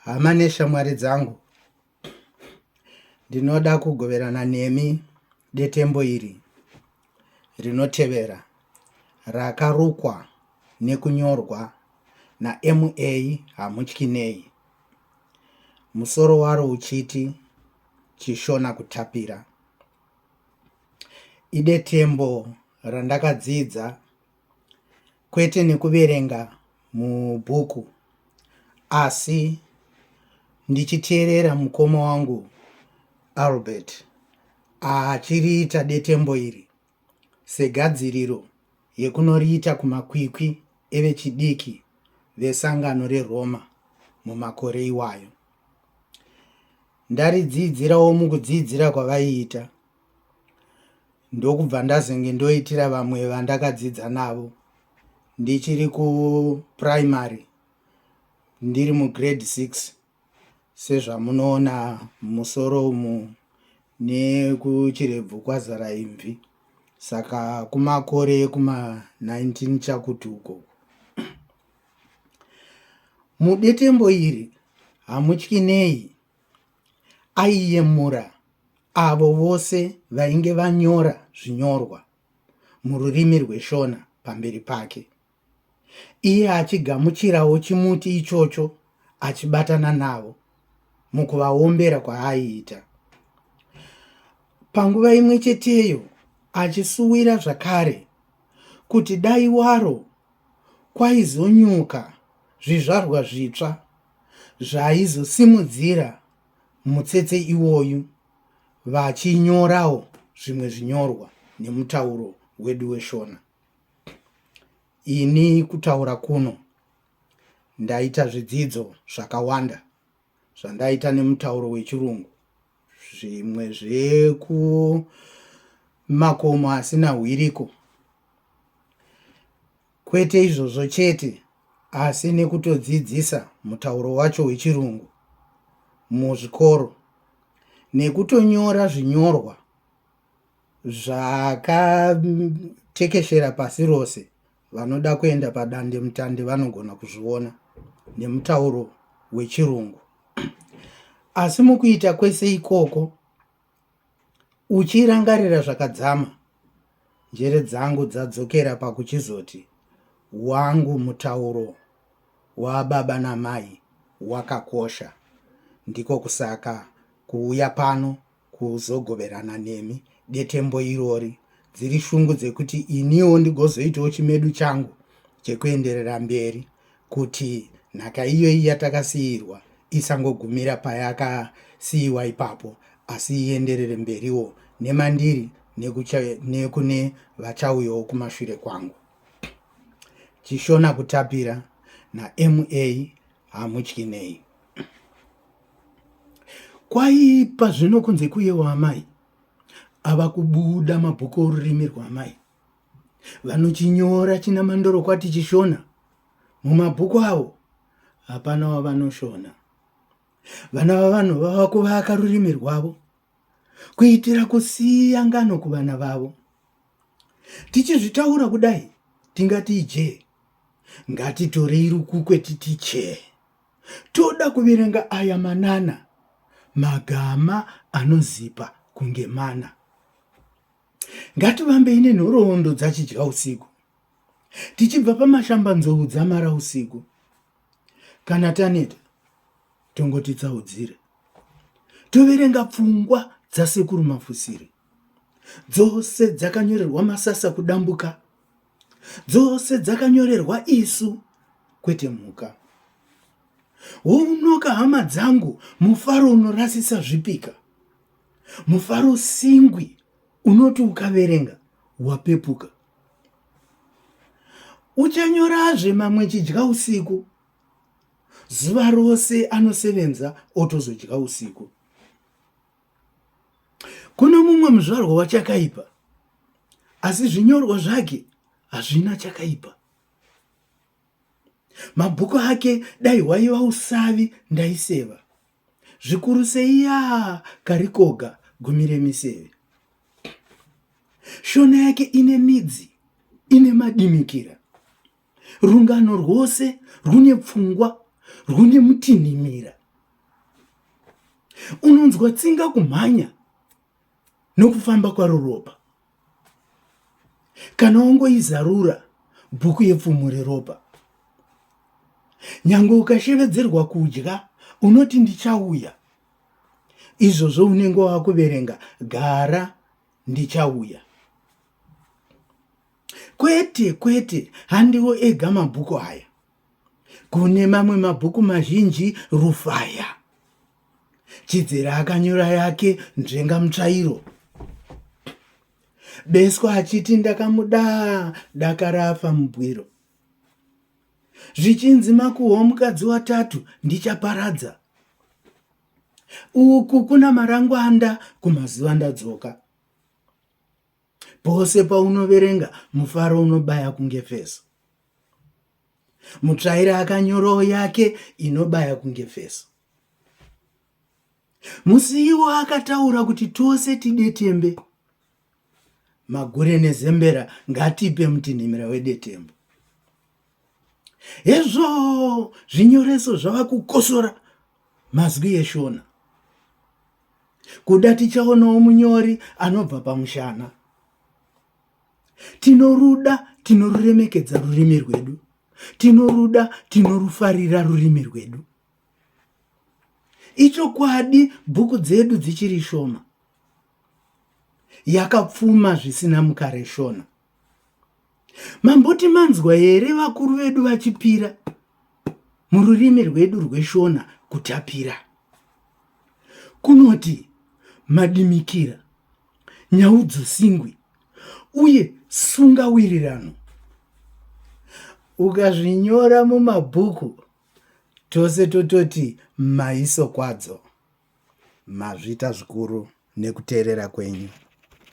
hama neshamwari dzangu ndinoda kugoverana nemi detembo iri rinotevera rakarukwa nekunyorwa nama hamutyi nei musoro waro uchiti chishona kutapira idetembo randakadzidza kwete nekuverenga mubhuku asi ndichiteerera mukoma wangu albert achiriita detembo iri segadziriro yekunoriita kumakwikwi evechidiki vesangano reroma mumakore iwayo ndaridzidzirawo mukudzidzira kwavaiita ndokubva ndazenge ndoitira vamwe vandakadzidza navo ndichiri kuprimary ndiri mugrade six sezvamunoona musoro umu nekuchirebvu kwazara imvi saka kumakore ekuma 19 chakuti uko mudetembo iri hamutyi nei Aiyemura avo vose vainge vanyora zvinyorwa mururimi rweShona pamberi pake, iye achigamuchirawo chimuti ichocho achibatana navo mukuvaombera kwaaiita. Panguva imwe cheteyo achisuwira zvakare kuti dai waro kwaizonyuka zvizvarwa zvitsva zvaizosimudzira mutsetse iwoyu vachinyorawo zvimwe zvinyorwa nemutauro wedu weShona. Ini kutaura kuno ndaita zvidzidzo zvakawanda zvandaita nemutauro wechirungu zvimwe zvekumakomo asina hwiriko Kwete izvozvo chete, asi nekutodzidzisa mutauro wacho wechirungu muzvikoro nekutonyora zvinyorwa zvakatekeshera pasi rose vanoda kuenda padandemutande vanogona kuzviona nemutauro wechirungu asi mukuita kwese ikoko Uchirangarira zvakadzama, njere dzangu dzadzokera pakuchizoti wangu mutauro wababa namai wakakosha. Ndiko kusaka kuuya pano kuzogoverana nemi detembo irori. Dziri shungu dzekuti iniwo ndigozoitawo chimedu changu chekuenderera mberi. kuti nhaka iyoyi yatakasiirwa isangogumira payakasiiwa ipapo asi ienderere mberiwo nemandiri nekune vachauyawo kumashure kwangu chishona kutapira nama hamutyi nei kwaipa zvino kunze kuyewo amai ava kubuda mabhuku orurimi rwaamai Vanochinyora chinamandorokwati chiShona mumabhuku avo hapana wavanoshona. Vana vavanhu vava kuvaka rurimi rwavo kuitira kusiya ngano kuvana vavo. Tichizvitaura kudai tingati ijee, ngatitorei rukukwe titi chee. Toda kuverenga aya manana, magama anozipa kunge mana. Ngativambei nenhoroondo dzachidya usiku, tichibva pamashambanzou dzamara usiku. Kana taneta, tongoti tsaudzire. Toverenga pfungwa dzasekuru mafusiri. Dzose dzakanyorerwa masasa kudambuka. Dzose dzakanyorerwa isu, kwete mhuka. Wounoka hama dzangu, mufaro unorasisa zvipika. Mufaro singwi unoti ukaverenga wapepuka. Uchanyorazve mamwe chidya usiku. Zuva rose anosevenza otozodya usiku. Kuno mumwe muzvarwa wachakaipa asi zvinyorwa zvake hazvina chakaipa. Mabhuku ake dai hwaiva usavi ndaiseva. zvikurusei yaa karikoga gumi remiseve. Shona yake ine midzi ine madimikira, rungano rwose rwune pfungwa rwune mutinhimira, unonzwa tsinga kumhanya nokufamba kwaro ropa. Kana wongoizarura bhuku yepfumo reropa, nyange ukashevedzerwa kudya, unoti ndichauya. Izvozvo unenge wakuverenga gara ndichauya. Kwete, kwete, handiwo ega mabhuku aya. Kune mamwe mabhuku mazhinji Rufaya Chidzera akanyora yake Nzvenga Mutsvairo Beswa achiti ndakamuda dakarafa mubwiro zvichinzi makuhwa mukadzi watatu ndichaparadza uku kuna marangwanda kumazuva ndadzoka Pose paunoverenga mufaro unobaya kunge feso. Mutsvaire akanyorawo yake inobaya kunge feso. Musiiwo akataura kuti tose tidetembe. Magure nezembera ngatipe mutinhimira wedetembo. hezvo zvinyoreso zvava kukosora mazwi eshona kuda tichaonawo munyori anobva pamushana tinoruda tinoruremekedza rurimi rwedu tinoruda tinorufarira rurimi rwedu ichokwadi bhuku dzedu dzichiri shoma yakapfuma zvisina mukare shona Mamboti manzwa here vakuru vedu vachipira mururimi rwedu rweshona kutapira kunoti madimikira nyaudzosingwi uye sunga wirirano ukazvinyora mumabhuku tose tototi maiso kwadzo mazvita zvikuru nekuteerera kwenyu